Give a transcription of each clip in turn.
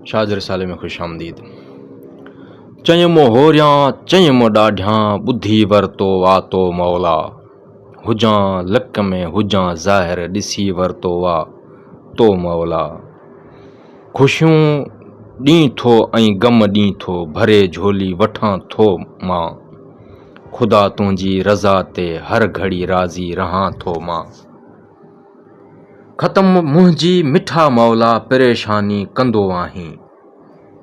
شاهد رسالي ۾ خوش آمديد. چئين مون هوريان چئين مون ڏاڍيان ٻڌي ورتو وا تو مولا هجان لڪ ۾ هجان ظاهر ڏسي ورتو وا تو مولا خوشيون ڏين ٿو ۽ غم ڏين ٿو ڀري جهولي وٺان ٿو مان خدا تنهنجي رضا تي هر گهڙي راضي رهان ٿو مان. ختم منهنجي مٺا مولا پريشاني ڪندو آهين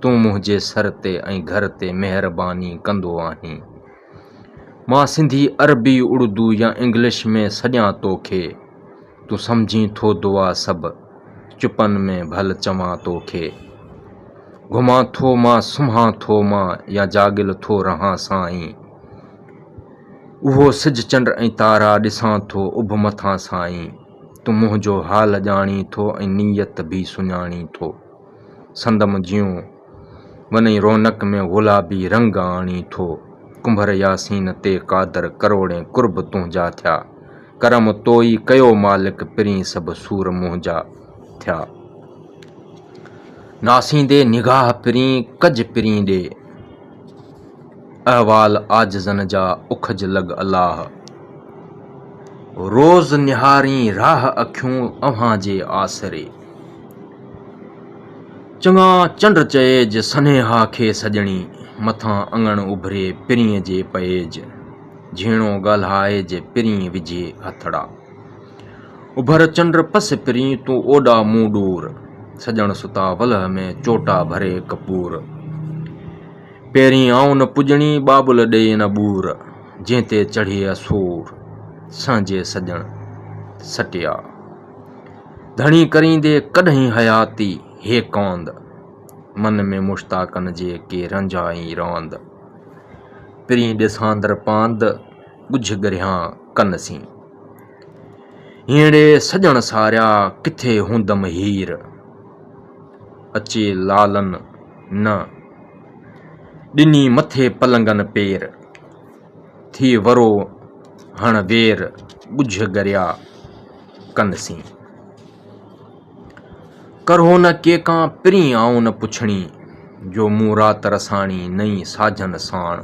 تون منهنجي سر تي ۽ گهر تي مهرباني ڪندو آهين مان سنڌي عربي اڙدو يا انگلش ۾ سڏيان توکي تون سمجهين ٿو دعا سڀ چپن ۾ ڀل چوان توکي گهمان ٿو مان سمهان ٿو مان يا جاڳيل ٿو رهان سائين. اهو سج چنڊ ۽ تارا ڏسان ٿو اڀ مٿان سائين تون منهنجو حال ڄاڻين ٿو ۽ نيت به سڃاڻين ٿو سندم جيون ونئين رونق ۾ غلابي رنگ آڻين ٿو ڪنڀر ياسين تي قادر ڪروڙين قرب تنهنجا ٿيا ڪرم تو ئي ڪيو مالڪ پرين سڀ سور منهنجا ٿيا ناسيندي نگاهه پرين ڪج پرين ڏي. احوال عاجزن جا اکج لڳ الله. روز نهارين راهه اکيون اوهان جي آسري. چڱا چنڊ چئيج سنيها کي سڄڻي. مٿان اڱڻ اڀري پرينء جي پئيج. جهيڻو ڳالهائج پرينء وجهي هٿڙا. اڀر چنڊ پس پرينء تون اوڏا مون ڏور. سڄڻ ستا ولهه ۾ چوٽا ڀري ڪپور. پيرين آئون نه پڄڻي، ٻاٻل ڏئي نه ٻور، جنهن تي چڙهي اسور، سهنجي سڄڻ سٽيا. ڌڻي ڪريندي ڪڏهين حياتي هي ڪاند، من ۾ مشتاقن جي ڪي رانجهائي راند. پرين ڏساندر پاند، ڳجهه ڳرهيان ڪن سين. هينئڙي سڄڻ ساريا، ڪٿي هوندم هير. اچي لالن نه! ڏني مٿي پلنگن پير، ٿي ورو هڻ وير ڳجهه ڳريا ڪن سين. ڪرهو نه ڪي ڪان پرين آئون نه پڇڻي، جو مون رات رساڻي نئين ساجن ساڻ.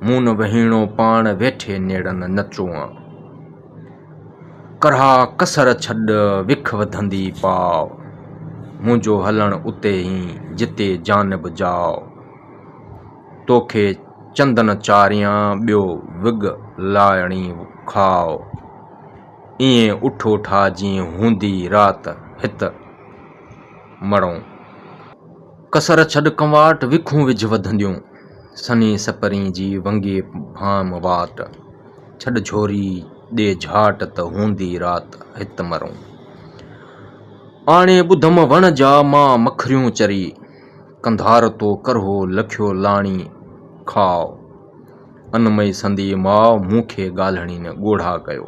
مون نه وهيڻو پاڻ ويٺي نيڙن نه چوئان. ڪرها ڪسر ڇڏ وک وڌندي پاء، منهنجو هلڻ اتي ئي جتي جان به جاء. توکي چندن چاريان ٻيو وڳ لايڻي کاء. ايئن اٺو ٺاهجين هوندي رات هت مڙئون. ڪسر ڇڏ ڪنواٽ، وکون وجهه وڌنديون. سنئين سپرين جي ونگي ڀانء واٽ، ڇڏ جهوري ڏي جهاٽ ته هوندي رات هت مرون. آڻي ٻڌم وڻ جا مان مکريون چري، ڪنڌار تو ڪرهو لکيو لاڻي کاء. انمئي سندي ماء مون کي ڳالهڻين ڳوڙها ڪيو.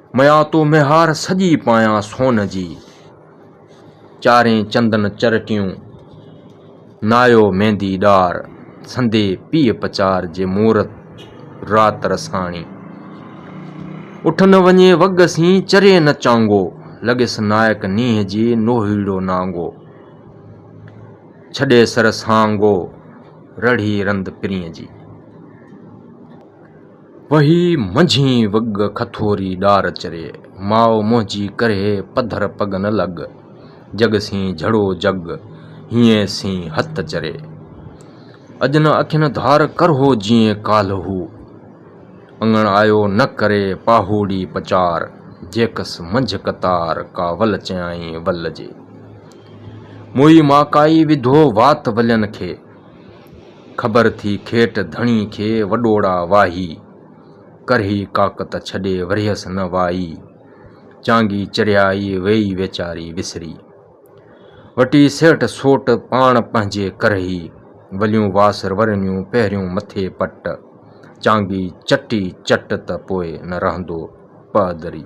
ميان تو ميهار سڄي پايان سون جي، چارين چندن چرٽيون نايو ميندي ڏار، سندي پيء پچار جي مورت رات رساڻي، اٺ نه وڃي وڳ سين چري نه چانگو، لڳيس نائڪ نينهن جي نوهيڙو نانگو، ڇڏي سر سانگو رڙهي رند پرينء جي. وهي منجهين وڳ کٿوري ڏار چري، ماء منهنجي ڪرهي پڌر پڳ نه لڳ، جڳ سين جھڙو جڳ، هينئن سين هت چري. اڄ نه اکين ڌار ڪرهو جيئن ڪالهه هو، اڱڻ آيو نه ڪري پاهوڙي پچار، جيڪس منجهه قطار ڪاول چيائين ول جي. موئي ماڪائي وڌو وات ولين کي، خبر ٿي کيٽ ڌڻي کي وڏوڙا واهي، ڪرهي ڪاڪ ته ڇڏي ورهيس نه وائي، چانگي چريائي ويئي ويچاري وسري، وٽي سيٺ سوٽ پاڻ پنهنجي ڪرهي، وليون واس رورنيون پهريون مٿي پٽ، چانگي چٽي چٽ ته پوء نه رهندو پهدري.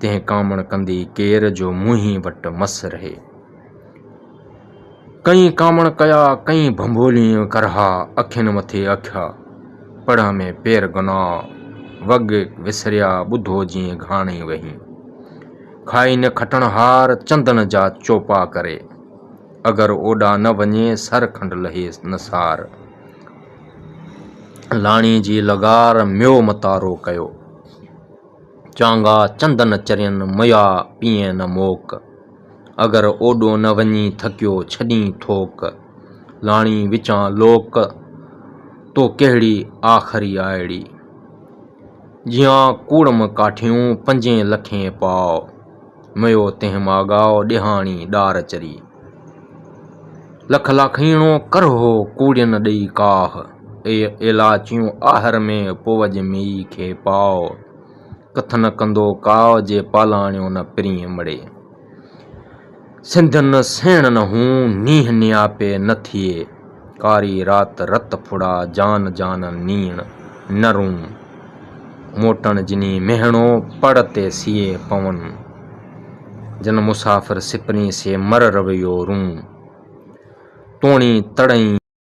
تنهن ڪامڻ ڪندي ڪير جو منهين وٽ مس رهي. ڪئين ڪامڻ ڪيا ڪئين ڀنڀولين ڪرها اکين مٿي اکيا پڙهه ۾ پير گناء وڳ وسريا ٻڌو جيئن گهاڻي وهين کائي نه کٽڻ هار چندن جا چوپا ڪري اگر اوڏا نه وڃي سر کنڊ لهي نه سار لاڻي جي لغار ميو متارو ڪيو چانگا چند نه چرين مئا پيئين نه موڪ، اگر اوڏو نه وڃين ٿڪيو ڇڏين ٿوڪ، لاڻي وچان لوڪ تو ڪهڙي آخري آئڙي، جيان ڪوڙم ڪاٺيون پنجين لکين پاء. ميو تنهن مان ڳاء ڏيهاڻي ڏار چري. لک لاکيڻو ڪرهو ڪوڙين ڏئي ڪاهه. اي ايلاچيون آهر ۾ پوج ميئي کي پاء. ڪٿ نه ڪندو ڪاء جي پالاڻيو نه پرينء مڙي. سنڌ نه سيڻ نه هون نينهن نياپي نه ٿئي. ڪاري رات رت ڦڙا جان جان نيڻ نه رون. موٽڻ جني مهڻو پڙ تي سيئي پون. جن مسافر سپني سي مر رويو رون. توڻي تڙئين.